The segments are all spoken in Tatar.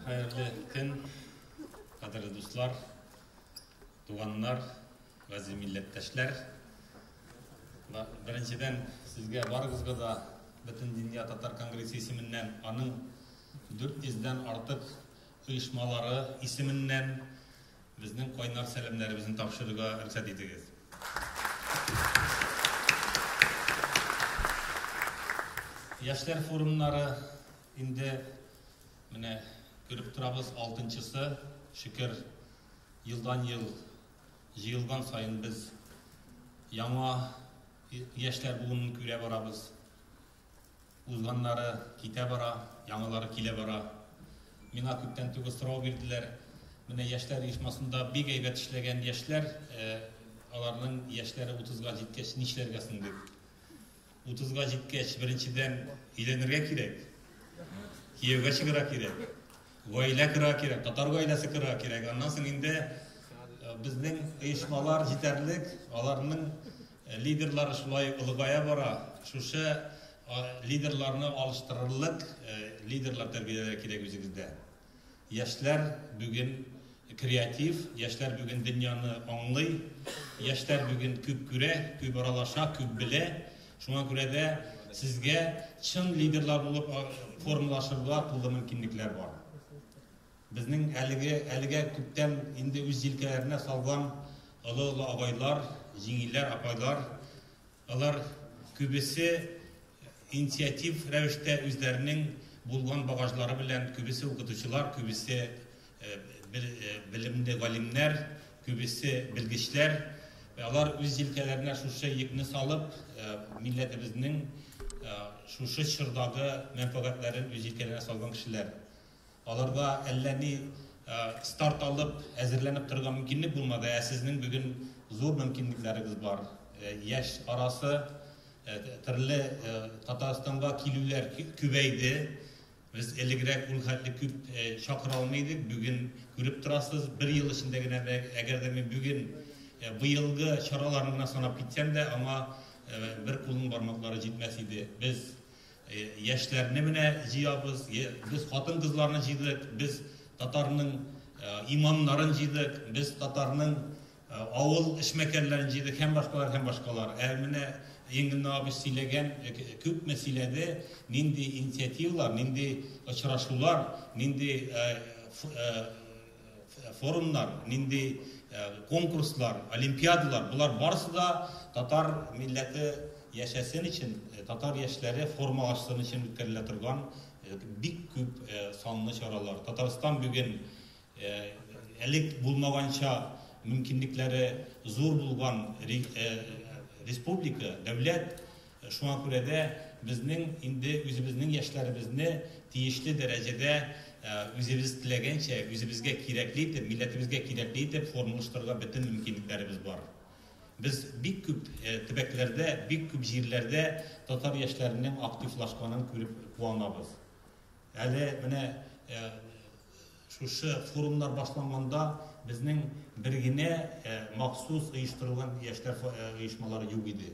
Хәерле көн, кадерле дуслар, туганнар, гази милләттәшләр. Беренчедән сезгә барыгызга да бөтен дөнья татар конгрессы исеменнән аның 400 дән артык оешмалары исеменнән Безнең кайнар сәламнәребезне тапшырырга рөхсәт итегез. Яшьләр форумнары инде менә күреп торабыз, алтынчысы. Шөкер, елдан-ел җыелган саен без яңа яшьләр буынын күрә барабыз. Узганнары китә бара, яңалары килә бара. Миңа күптән түгел сорау бирделәр, менә яшьләр оешмасында бик әйбәт эшләгән яшьләр, аларның яшьләре утызга җиткәч нишләргә соң дип. Утызга җиткәч, беренчедән, өйләнергә кирәк, кияүгә чыгарга кирәк, гаилә корырга кирәк, татар гаиләсе корырга кирәк. Аннан соң инде безнең оешмалар җитәрлек, аларның Лидерлар шулай олыгая бара. Шушы лидерларны алыштырырлык лидерлар тәрбияләргә кирәк үзегездә. Яшьләр бүген креатив, яшьләр бүген дөньяны аңлый, яшьләр бүген күп күрә, күп аралаша, күп белә. Шуңа күрә дә сезгә чын лидерлар булып формалашырга тулы мөмкинлекләр бар. Безнең әлеге, әлегә күптән инде үз җилкәләренә салган олы-олы абайлар, җиңгиләр, апайлар, алар күбесе инициатив рәвештә үзләренең булган багажлары белән, күбесе укытучылар, күбесе белемле галимнәр, күбесе белгечләр, алар үз җилкәләренә шушы йөкне салып, милләтебезнең шушы чордагы мәнфәгатьләрен үз җилкәләренә салган кешеләр. Аларда әллә ни старт алып, әзерләнеп торырга мөмкинлек булмады, ә сезнең бүген зур мөмкинлекләрегез бар. Яшь арасы төрле Татарстанга килүләр күбәйде. Без элегрәк ул хәтле күп чакыра алмый идек, бүген күреп торасыз, бер ел эчендә генә дә, әгәр дә мин бүген быелгы чараларны гына санап китсәм дә, аңа бер кулның бармаклары җитмәс иде. Без Яшьләрне менә җыябыз, без хатын-кызларны җыйдык, без татарның имамнарын җыйдык, без татарның авыл эшмәкәрләрен җыйдык һәм башкалар, һәм башкалар. Ә менә Ингенна абый сөйләгән, күпме сөйләде, нинди инициативалар, нинди очрашулар, нинди форумнар, нинди конкурслар, олимпиадалар, болар барысы да татар милләте яшәсен өчен, татар яшьләре формалашсын өчен үткәрелә торган бик күп санлы чаралар. Татарстан бүген элек булмаганча мөмкинлекләре зур булган республика, дәүләт. Шуңа күрә дә безнең инде үзебезнең яшьләребезне тиешле дәрәҗәдә үзебез теләгәнчә, үзебезгә кирәкле итеп, милләтебезгә кирәкле итеп формалаштырырга бөтен мөмкинлекләребез бар. Без бик күп төбәкләрдә, бик күп җирләрдә татар яшьләренең активлашканын күреп куанабыз. Әле менә шушы форумнар башланганда безнең бер генә махсус оештырылган яшьләр оешмалары юк иде.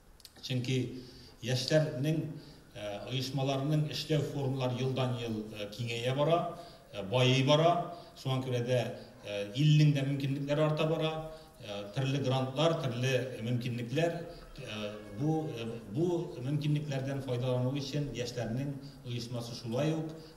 Чөнки яшьләрнең оешмаларының эшләү формалары елдан-ел киңәя бара, байый бара. Шуңа күрә дә илнең дә мөмкинлекләре арта бара. Төрле грантлар, төрле мөмкинлекләр бу бу мөмкинлекләрдән файдалану өчен яшьләрнең оешмасы шулай ук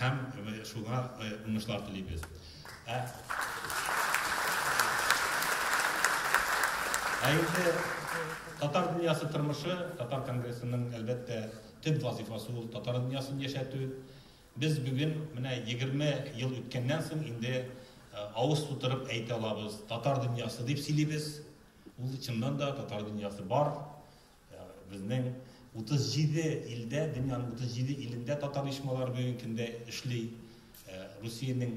Һәм шуңа уңышлар телибез. Ә инде татар дөньясы тормышы, татар конгрессының, әлбәттә, төп вазыйфасы ул татар дөньясын яшәтү. Без бүген менә 20 ел үткәннән соң инде авыз тутырып әйтә алабыз, татар дөньясы дип сөйлибез. Ул чыннан да татар дөньясы бар. Безнең 37 илдә, дөньяның 37 илендә татар оешмалары бүгенге көндә эшли. Русиянең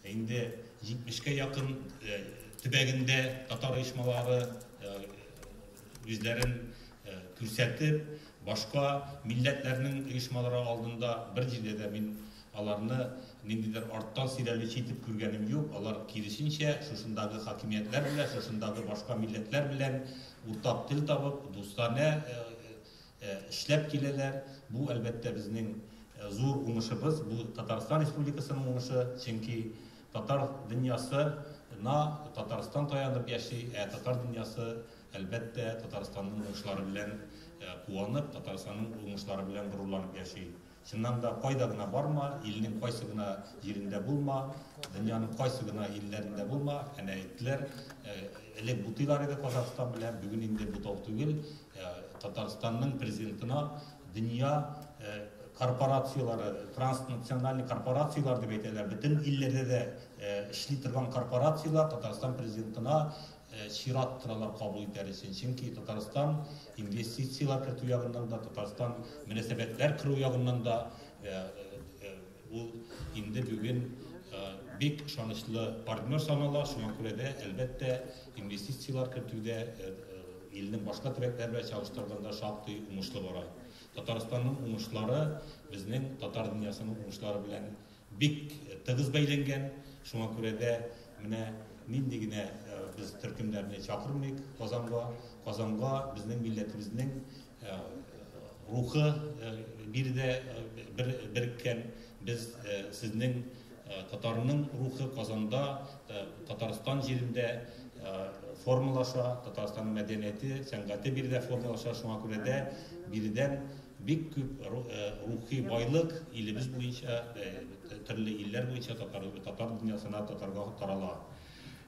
инде 70-кә якын төбәгендә татар оешмалары үзләрен күрсәтеп, башка милләтләрнең оешмалары алдында бер җирдә дә мин Аларны ниндидер арттан сөйләүлече итеп күргәнем юк, алар, киресенчә, шушындагы хакимиятләр белән, шушындагы башка милләтләр белән уртак тел табып, дустанә эшләп киләләр. Бу, әлбәттә, безнең зур уңышыбыз, бу Татарстан Республикасының уңышы, чөнки татар дөньясы на Татарстан таянып яши, ә татар дөньясы, әлбәттә, Татарстанның уңышлары белән куанып, Татарстанның уңышлары белән горурланып яши. Чыннан да, кайда гына барма, илнең кайсы гына җирендә булма, дөньяның кайсы гына илләрендә булма, әнә әйттеләр, элек бутыйлар иде Казахстан белән, бүген инде бутау түгел, Татарстанның Президентына дөнья корпорацияләре, транснациональный корпорацияләр дип әйтәләр, бөтен илләрдә дә эшли торган корпорацияләр Татарстан Президентына чират торалар кабул итәр өчен, чөнки Татарстан инвестицияләр кертү ягыннан да, Татарстан мөнәсәбәтләр кору ягыннан да ул инде бүген бик ышанычлы партнер санала, шуңа күрә дә, әлбәттә, инвестицияләр кертүдә илнең башка төбәкләре белән чагыштырганда шактый уңышлы бара. Татарстанның уңышлары безнең татар дөньясының уңышлары белән Бик тыгыз бәйләнгән, шуңа күрә дә менә нинди генә без төркемнәрне чакырмыйк Казанга, Казанга безнең милләтебезнең рухы биредә береккән, без сезнең татарның рухы Казанда, Татарстан җирендә формалаша, Татарстанның мәдәнияте, сәнгате биредә формалаша, шуңа күрә дә биредән Бик күп рухи байлык илебез буенча, төрле илләр буенча татар дөньясына, татарга тарала.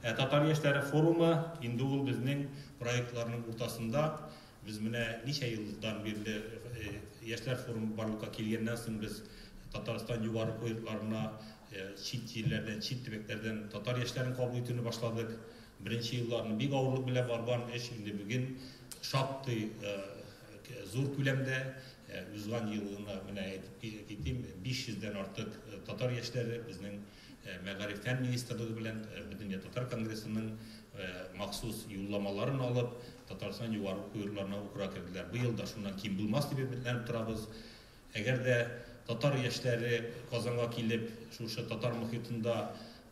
Ә татар яшьләре форумы, инде ул безнең проектларның уртасында. Без менә ничә елдан бирле яшьләр форумы барлыкка килгәннән соң без Татарстан югары кул йортларына чит җирләрдән, чит төбәкләрдән татар яшьләрен кабул итүне башладык. Беренче елларны бик авырлык белән барган эш инде бүген шактый Зур күләмдә узган ел гына, менә әйтеп китим, 500 дән артык татар яшьләре безнең Мәгариф фән министрлыгы белән Бөтендөнья татар конгрессының махсус юлламаларын алып, Татарстан югары уку йортларына укырга керделәр. Быел да шуннан ким булмас дип өметләнеп торабыз. Әгәр дә татар яшьләре Казанга килеп, шушы татар мохитында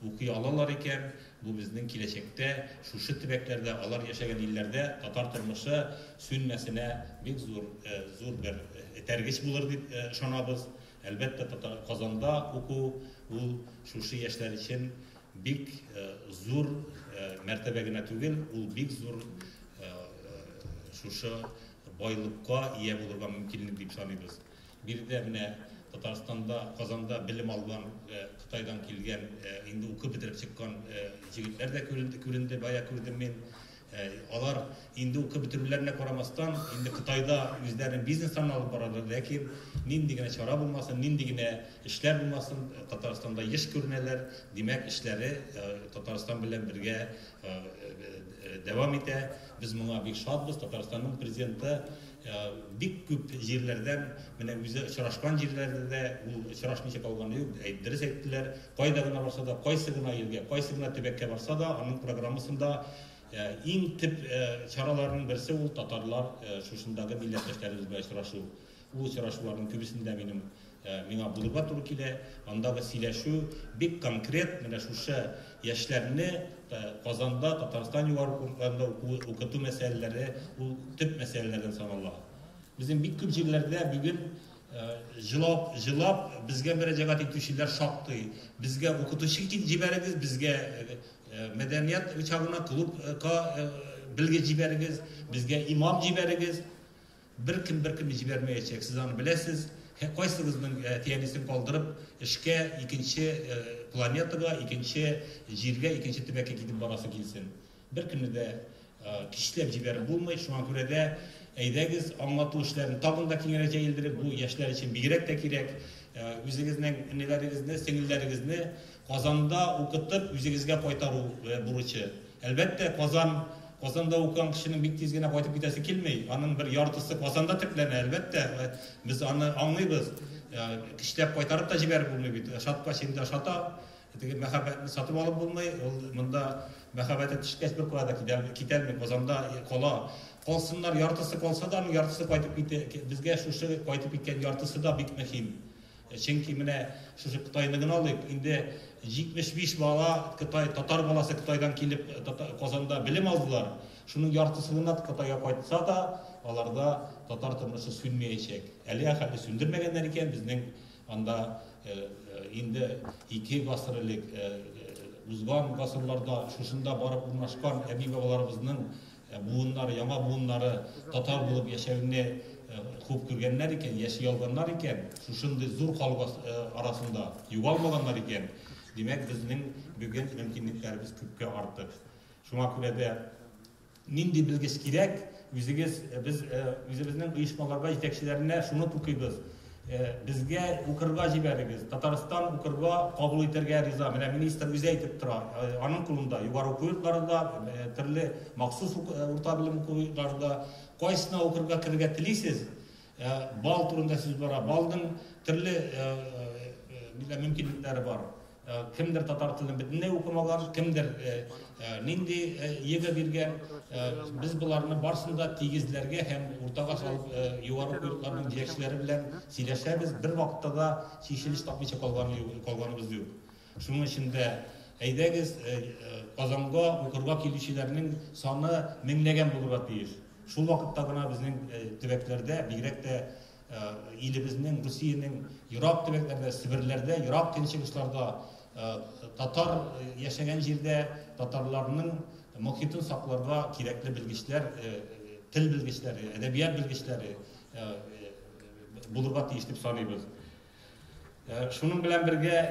укый алалар икән, бу безнең киләчәктә шушы төбәкләрдә, алар яшәгән илләрдә татар тормышы сүнмәсенә бик зур, зур бер этәргеч булыр дип ышанабыз. Әлбәттә, татар Казанда уку ул шушы яшьләр өчен бик зур мәртәбә генә түгел, ул бик зур шушы байлыкка ия булырга мөмкинлек дип саныйбыз. Биредә менә Татарстанда, Казанда белем алган, Кытайдан килгән, инде укып бетереп чыккан җегетләр дә күренде, бая күрдем мин. Алар инде укып бетерүләренә карамастан, инде Кытайда үзләренең бизнесларын алып баралар, ләкин нинди генә чара булмасын, нинди генә эшләр булмасын, Татарстанда еш күренәләр, димәк, эшләре Татарстан белән бергә дәвам итә. Без моңа бик шатбыз. Татарстанның президенты бик күп җирләрдән, менә үзе очрашкан җирләрдә дә ул очрашмыйча калганы юк, дөрес әйттеләр. Кайда гына барса да, кайсы гына илгә, кайсы гына төбәккә барса да, аның программасында иң төп чараларның берсе ул татарлар шушындагы милләттәшләребез белән очрашу. Бу очрашуларның күбесендә минем миңа булырга туры килә. Андагы сөйләшү бик конкрет, менә шушы яшьләрне Казанда, Татарстан югары курсларында уку, укыту мәсьәләләре ул төп мәсьәләләрдән санала. Безнең бик күп җирләрдә бүген җылап, җылап безгә мөрәҗәгать итүчеләр шактый. Безгә укытучы җибәрегез, безгә мәдәният чагына клубка белгеч җибәрегез, безгә имам җибәрегез. Беркем беркемне җибәрмәячәк, сез аны беләсез. Һе, кайсыгызның әти-әнисен калдырып, эшкә икенче планетага, икенче җиргә, икенче төбәккә китеп барасы килсен? Беркемне дә көчләп җибәреп булмый. Шуңа күрә дә, әйдәгез, аңлату эшләрен тагын да киңрәк җәелдерик, бу яшьләр өчен бигрәк тә кирәк. Үзегезнең энеләрегезне, сеңелләрегезне Казанда укытып, үзегезгә кайтару бурычы. Әлбәттә, Казан, Казанда укыган кешенең бик тиз генә кайтып китәсе килми. Аның бер яртысы Казанда төпләнә, әлбәттә. Без аны аңлыйбыз. Көчләп кайтарып та җибәреп булмый бит. Ошаткач, инде ошата. Теге мәхәббәтне сатып алып булмый. Ул монда мәхәббәте төшкәч, бер кая да китәлми, Казанда кала. Калсыннар, яртысы калса да, аның яртысы кайтып китә. Безгә шушы кайтып киткән яртысы да бик мөһим. Чөнки менә шушы Кытайны гына алыйк, инде 75 бала Кытай, татар баласы Кытайдан килеп Казанда белем алдылар. Шуның яртысы гына Кытайга кайтса да, аларда татар тормышы сүнмәячәк. Әлегә хәтле сүндермәгәннәр икән, безнең анда инде ике гасыр элек, узган гасырларда шушында барып урнашкан әби-бабаларыбызның Буыннары, яңа буыннары татар булып яшәүне хуп күргәннәр икән, яши алганнар икән, шушындый зур халык арасында югалмаганнар икән, димәк, безнең бүген мөмкинлекләребез күпкә артык. Шуңа күрә дә нинди белгеч кирәк, үзегез, без үзебезнең оешмаларга, җитәкчеләренә шуны тукыйбыз. Безгә укырга җибәрегез. Татарстан укырга кабул итәргә риза. Менә министр үзе әйтеп тора. Аның кулында югары уку йортлары да, төрле махсус урта белем уку йортлары да. Кайсына укырга керергә телисез? Балл турында сүз бара. Баллның төрле мөмкинлекләре бар. Кемдер татар телен бөтенләй укымаган, кемдер нинди йөгә биргән. Без боларны барсын да тигезләргә һәм уртага салып югары куюларның җитәкчеләре белән сөйләшәбез. Бер вакытта да чишелеш тапмыйча калган юк, калганыбыз юк. Шуның өчен дә әйдәгез Казанга укырга килүчеләрнең саны меңләгән булырга тиеш. Шул вакытта гына безнең төбәкләрдә, бигрәк тә Э, илебезнең русиянең ерак төбәкләрдә себерләрдә ерак көнчыгышларда э, татар э, яшәгән җирдә татарларның мохитын сакларга кирәкле белгечләр тел белгечләре әдәбият белгечләре булырга тиеш дип саныйбыз шуның белән бергә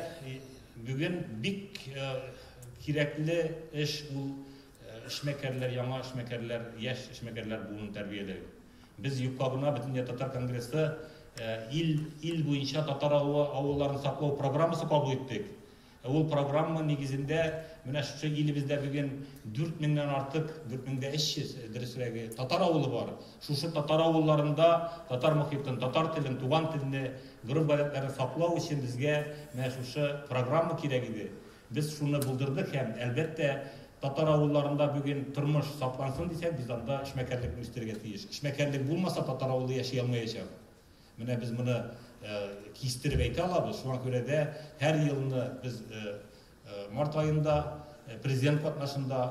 бүген бик кирәкле эш ул эшмәкәрләр яңа эшмәкәрләр яшь эшмәкәрләр буын тәрбияләү Без юкка гына Бөтендөнья татар конгрессы ил ил буенча татар авылларын саклау программасы кабул иттек. Ә ул программа нигезендә менә шушы илебездә бүген 4 меңнән артык, 4 меңдә 300 дөресрәге, татар авылы бар. Шушы татар авылларында татар мохитен, татар телен, туган телне, гореф-гадәтләрен саклау өчен безгә менә шушы программа кирәк иде. Без шуны булдырдык һәм, әлбәттә, татар авылларында бүген тормыш саклансын дисәк, без анда эшмәкәрлекне үстерергә тиеш. Эшмәкәрлек булмаса, татар авылы яши алмаячак. Менә без моны кистереп әйтә алабыз. Шуңа күрә дә һәр елны без март аенда президент катнашында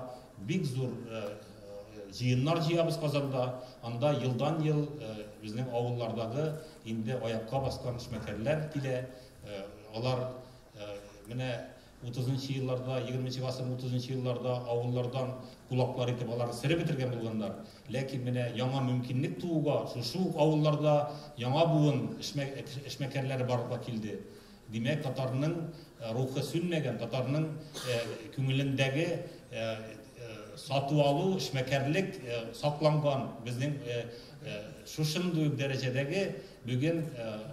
бик зур җыеннар җыябыз Казанда. Анда елдан-ел безнең авыллардагы инде аякка баскан эшмәкәрләр килә. Алар Менә утызынчы елларда, егерменче гасырның утызынчы елларда авыллардан кулаклар итеп аларны сырып бетергән булганнар. Ләкин менә яңа мөмкинлек тууга, шушы ук авылларда яңа буын эшмәкәрләре барлыкка килде. Димәк, татарның э, рухы сүнмәгән, татарның э, күңелендәге э, сату алу, эшмәкәрлек сакланган. Безнең шушындый дәрәҗәдәге Бүген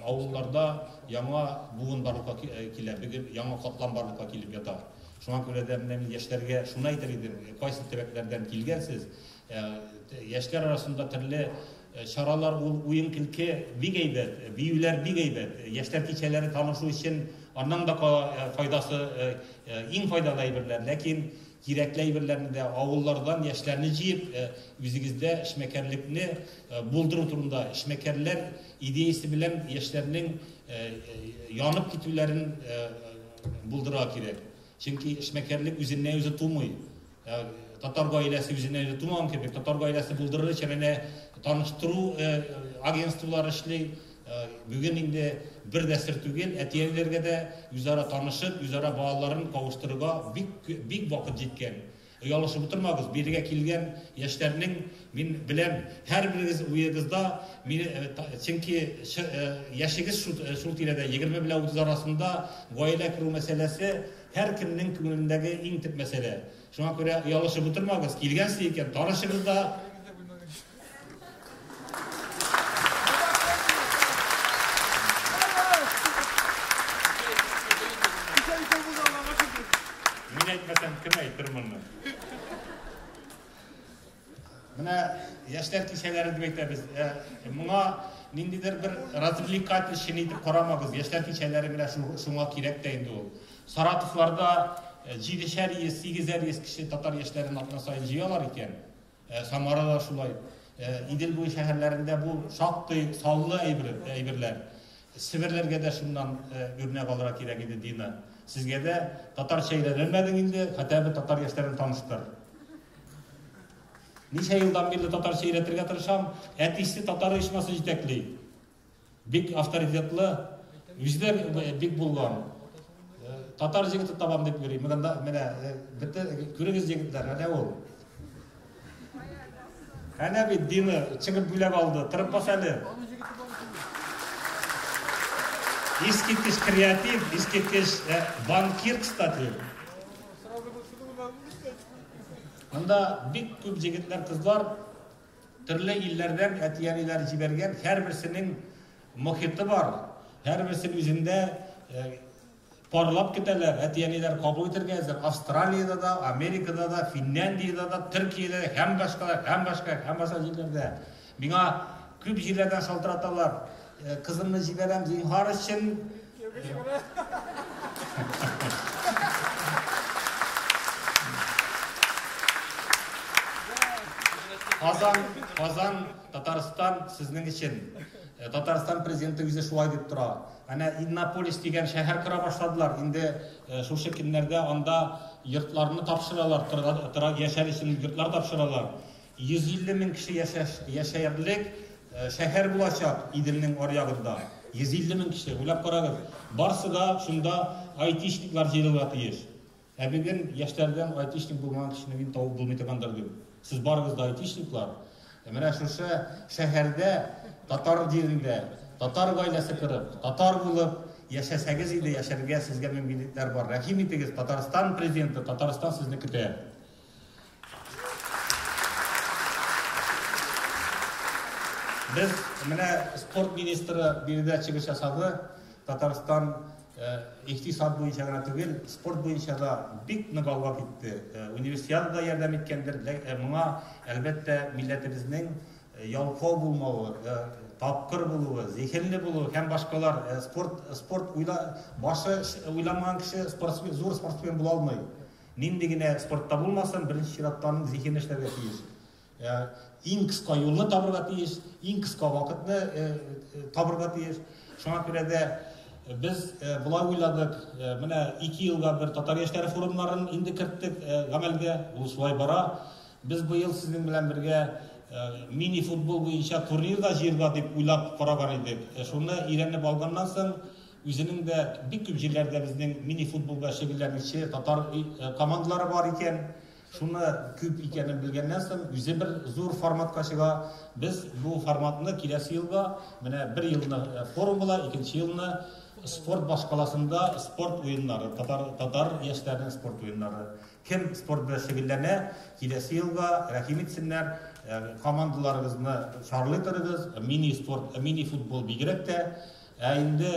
авылларда яңа буын барлыкка килә, бүген яңа катлам барлыкка килеп ята. Шуңа күрә дә менә мин яшьләргә шуны әйтер идем, кайсы төбәкләрдән килгәнсез, яшьләр арасында төрле чаралар ул, уен-көлке бик әйбәт, биюләр бик әйбәт, яшьләр кичәләре танышу өчен аннан да файдасы, иң файдалы әйберләр, ләкин Кирәкле әйберләрне дә, авыллардан яшьләрне җыеп, үзегездә эшмәкәрлекне булдыру турында, эшмәкәрләр идеясе белән яшьләрнең янып китүләрен булдырырга кирәк. Чөнки эшмәкәрлек үзеннән-үзе тумый. Татар гаиләсе үзеннән-үзе тумаган кебек, татар гаиләсе булдырыр өчен әнә таныштыру агентстволары эшли. Бүген инде бер дә сер түгел, әти-әниләргә дә үзара танышып, үзара балаларын кавыштырырга бик, бик вакыт җиткән. Оялышып утырмагыз, бирегә килгән яшьләрнең, мин беләм, һәрберегез уегызда, мине, чөнки яшегез шул, шул тирәдә, егерме белән утыз арасында, гаилә кору мәсьәләсе һәркемнең күңелендәге иң төп мәсьәлә. Шуңа күрә оялышып утырмагыз, килгән сез икән, танышыгыз да, Мин әйтмәсәм, кем әйтер моны? Менә яшьләр кичәләре дип әйтәбез. Ә, Моңа ниндидер бер развлекатель чын итеп карамагыз. Яшьләр кичәләре менә шу- шуңа кирәк тә инде ул. Саратовларда э, җидешәр йөз, сигезәр йөз кеше татар яшьләрен атна саен җыялар икән. Самара да шулай. Идел буе шәһәрләрендә бу шактый саллы әйберләр. Себерләргә дә шуннан үрнәк алырга кирәк иде, Дина. Сезгә дә татарча өйрәнелмәдең инде, хәтта бер татар яшьләрен таныштыр. Ничә елдан бирле татарча өйрәтергә тырышам, әтисе татар оешмасы җитәкли. Бик авторитетлы, үзе бик булган. Татар җегете табам дип йөри. Менә да, менә бите күрегез җегетләр, әнә ул. Әнә бит дины чыгып бүләк алды. Тырып бас әле. Искиткеч креатив, искиткеч банкир, кстати. Анда бик күп җегетләр, кызлар Төрле илләрдән әти-әниләр җибәргән, һәрберсенең мохиты бар, һәрберсен үзендә парлап көтәләр, әти-әниләр кабул итәргә әзер. Австралиядә дә, Америкада да, Финляндиядә дә, Төркиядә дә, һәм башка, һәм башка, һәм башка җирләрдә. Миңа күп җирләрдән шалтыраталар, кызымны җибәрәм, зинһар өчен, Казан, Казан, Татарстан сезнең өчен. Э, Татарстан президенты үзе шулай дип тора. Әнә Иннополис дигән шәһәр кора башладылар. Инде э, шушы көннәрдә анда йортларны тапшыралар, тора яшәр өчен йортлар тапшыралар. 150 мең кеше яшәярлек шәһәр булачак Иделнең аръягында. 150 мең кеше, уйлап карагыз. Барсы да шунда айтишниклар җыелырга тиеш. Ә бүген яшьләрдән айтишник булмаган кешене мин табып булмый торгандыр дип. Сез барыгыз да айтишниклар. Менә шушы шәһәрдә, татар җирендә, татар гаиләсе корып, татар булып яшәсәгез иде, яшәргә сезгә мөмкинлекләр бар. Рәхим итегез, Татарстан президенты, Татарстан сезне көтә. Без менә спорт министры биредә чыгыш ясады. Татарстан икътисад буенча гына түгел, спорт буенча да бик нык алга китте. Универсиада да ярдәм иткәндер. Моңа, әлбәттә, милләтебезнең ялкау булмавы, тапкыр булуы, зиһенле булуы һәм башкалар. Спорт, спорт уйла, башы уйламаган кеше спортсмен, зур спортсмен була алмый. Нинди генә спортта булмасын, беренче чиратта аның зиһене эшләргә тиеш. Э, иң кыска юлны табырга тиеш, иң кыска вакытны э, э, табырга тиеш. Шуңа күрә дә без болай уйладык, менә ике елга бер татар яшьләре форумнарын инде керттек гамәлгә, ул шулай бара. Без быел сезнең белән бергә мини футбол буенча турнир да җыерга дип уйлап караган идек. Шуны өйрәнеп алганнан соң, Үзенең дә бик күп җирләрдә безнең мини футболда шөгыльләнүче татар командалары бар икән. Шуны күп икәнен белгәннән соң, үзе бер зур форматка чыга. Без бу форматны киләсе елга, менә бер елны форум була, икенче елны спорт башкаласында спорт уеннары, татар татар яшьләренең спорт уеннары. Кем спорт белән шөгыльләнә, киләсе елга рәхим итсеннәр, командаларыгызны чарлый торыгыз, мини спорт, мини футбол бигрәк тә Ә инде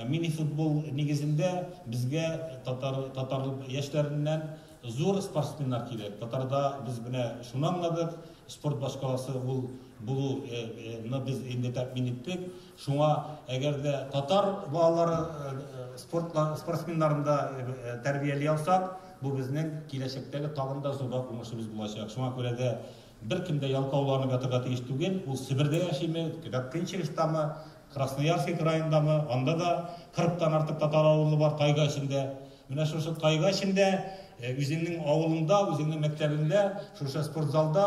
мини-футбол нигезендә безгә татар татар яшьләреннән зур спортсменнар кирәк. Татарда без менә шуны аңладык, спорт башкаласы ул булу ны без инде тәэмин иттек. Шуңа әгәр дә татар балалары спорт спортсменнарында тәрбияли алсак, бу безнең киләчәктәге тагын да зуррак уңышыбыз булачак. Шуңа күрә дә Беркем дә ялкауланып ятырга тиеш түгел, ул Себердә яшиме, Гатчинчегштамы, Красноярский краендамы, анда да 40 тан артык татар авылы бар тайга эчендә. Менә шушы тайга эчендә үзеңнең авылыңда, үзеңнең мәктәбеңдә, шушы спортзалда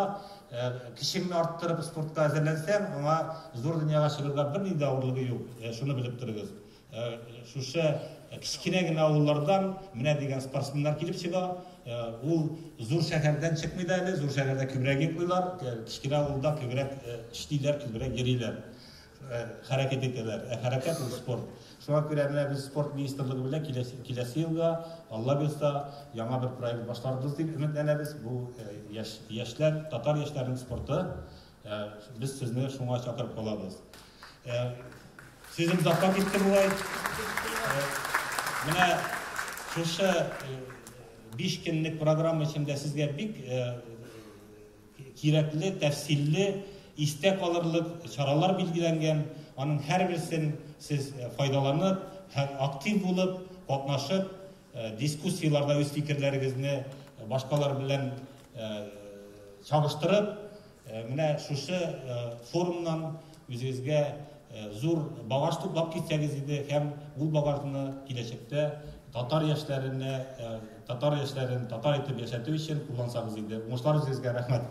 кешеңне арттырып спортка әзерләнсәң, аңа зур дөньяга чыгарга бернинди авырлыгы юк. Шуны белеп торыгыз. Э, шушы э, кечкенә генә авыллардан менә дигән спортсменнар килеп чыга э, ул зур шәһәрдән чыкмый да әле зур шәһәрдә күбрәк йоклыйлар кечкенә авылда күбрәк эшлиләр күбрәк йөриләр хәрәкәт итәләр ә хәрәкәт ул спорт шуңа күрә менә без спорт министрлыгы белән киләсе, киләсе елга алла бирса яңа бер проект башларбыз дип өметләнәбез бу яшь, яшьләр татар яшьләренең спорты Ә, без сезне шуңа чакырып калабыз. Ә, сезем запа китте булай. Ә, менә шушы э, биш көнлек программа эчендә сезгә бик э, кирәкле, тәфсилле, истә калырлык чаралар билгеләнгән. Аның һәрберсен сез э, файдаланып, актив булып, катнашып, Дискуссияләрдә үз фикерләрегезне башкалар белән чагыштырып, менә шушы форумнан үзегезгә зур багаж туплап китсәгез иде һәм ул багажны киләчәктә татар яшьләренә, татар яшьләрен татар итеп яшәтү өчен куллансагыз иде. Уңышлар үзегезгә, рәхмәт!